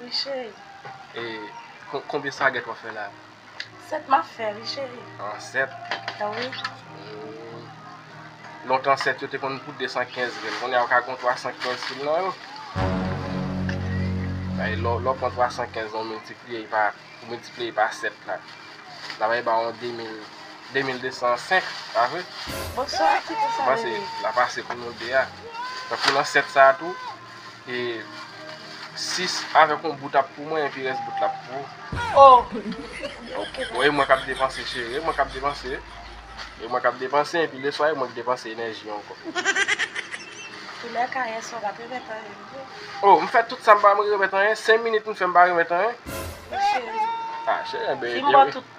Wi cheri. E konbyen sagèt wap fè la? 7 map fè wi cheri. An 7? Wi. Lontan 7 yo te konn koute 215 grenn. Kounya ou ka gon 315 fil nan yo. Bay lè ou pran 315 lan ou miltipliye pa ou miltipliye pa 7 la. Sa vale ba ou 2000, 2205, pa vre? Bon sa ki pou sa vle di? Ou panse lap ase pou nou 2 a? Tankou nan 7 sa tou. E 6 avèk yon bout ap pou mwen epi rès bout la ap pou ou. Oh! E mwen k ap depanse cheri, e mwen k ap depanse. E mwen k ap depanse epi leswa e mwen k depanse enèji ankò. Tou lè kayè sa w pa p remèt anyen vre. Oh! M fè tout sa m pa m remèt anyen, 5 minit m fè m pa remèt anyen. Cheri. Ah cheri, enben. Di m bò tout.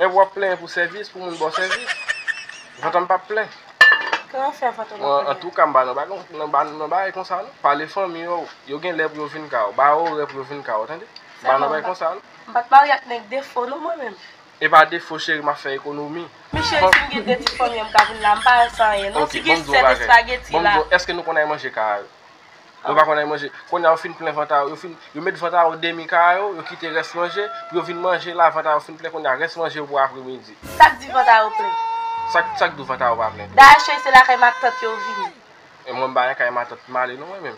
Ew wap plenyen pou sèvis pou moun baw sèvis vantanm pap plen mwen antouka mpa nan bagay konsa non pale fanmiy ou yo gen lè pou yo vin kay ou ba yo orè pou yo vin kay ou tande mpa nan bagay konsa non. Mpat marye ak nèg defo non mwen menm. Epa defo cheri map fè ekonomi. Men cheri sim gen 2 ti fanmi an mka vin la mpa al san anyen non si gen 7 espageti la. Eske nou konn al manje kay a yo. Yo pa konn al manje. Kounye a yo fin plen vant a yo, yo met vant a yo demi ka a yo, yo kite rès manje, pou yo vin manje la, vant a yo fin plen kounye a, rès manje yo pou apremidi. Sa k di vant a yo plen? Sa k di vant a yo pa plen? Dayè cheri se lakay matant yo vini. Mwen m pa nan kay matant m ale non mwen menm.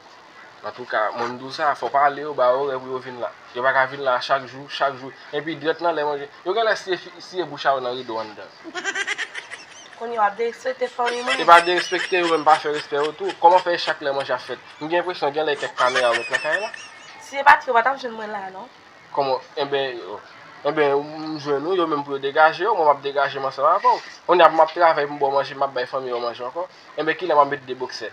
Antouka moun m di w sa, fò w pale yo, ba yo orè pou yo vin la. Yo pa ka vin la chak jou, chak jou. Enpi dwèt lan lè manje. Yo genlè siye fi siye bouch a yo nan rido anndan. Kounye wap derespekte fanmi mwen. E pa derespekte yo menm pa fè respè yo tou. Kòman fè e chak lè manje ap fèt. M gen enpresyon genlè e kèk kamera yo met nan kay la. Si e pati yo pa tap jwenn mwen la non. Kòman enben enben m jwenn ou yo menm pou yo degaje yo mwen map degaje m ansanm avèw. Kounye a pou map travay pou m baw manje map bay fanmi yo manje ankò. Enben kilè map met 2 boksè.